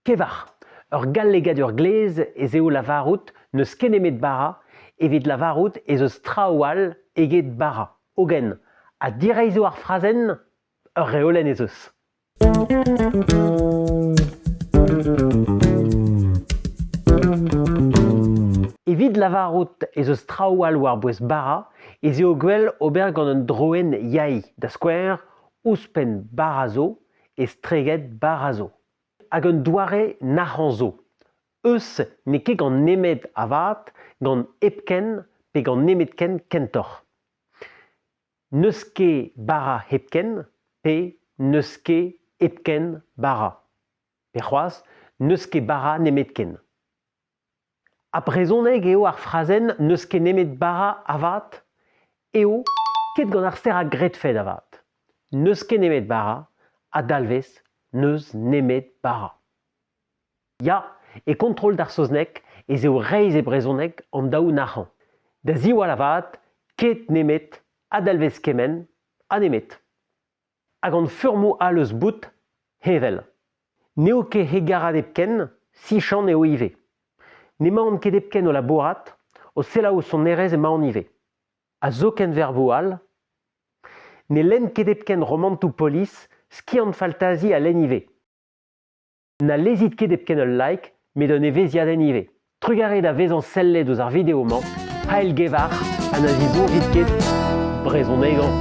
Pevar. Ur gallegadur glez ez eo lavarout n'eus ket nemet bara evit lavarout ez eus traoù all eget bara. Hogen, ha direizho ar frazenn? Ur reolenn ez eus. Evit lavarout ez eus traoù all war-bouez bara ez eo gwell ober gant un droenn yaï, da skouer, ouzhpenn bara zo, estreget bara zo. Hag un doare nac'hañ zo, eus n'eo ket gant nemet avat, gant hepken pe gant nemetken kentoc'h. N'eus ket bara hepken pe n'eus ket hepken bara. Pe c'hoazh, n'eus ket bara nemetken. Ha brezhoneg eo ar frazenn n'eus ket nemet bara avat? Eo, ket gant ar ster a gredfed avat. N'eus ket nemet bara, a dalvez n'eus nemet bara. Ya, e kontrol d'ar saozneg ez eo reizh e brezhoneg an daou nac'hañ. Da ziwall avat, ket nemet a dalvez kement ha nemet. Hag hon furmoù all eus bout, heñvel. N'eo ket hegarat hepken, sichant eo ivez. N'emaon ket hepken o labourat, o selaou sonerezh emaon ivez. Ha zoken verboù all. Ne lenn ket hepken romantoù polis, skiant faltazi a lenn ivez. Na lezit ket hepken ul like, met un evezhiadenn ivez. Trugarez da vezañ sellet ouzh ar video-mañ, paeilgevar ha na zibourrit ket brezhonegañ.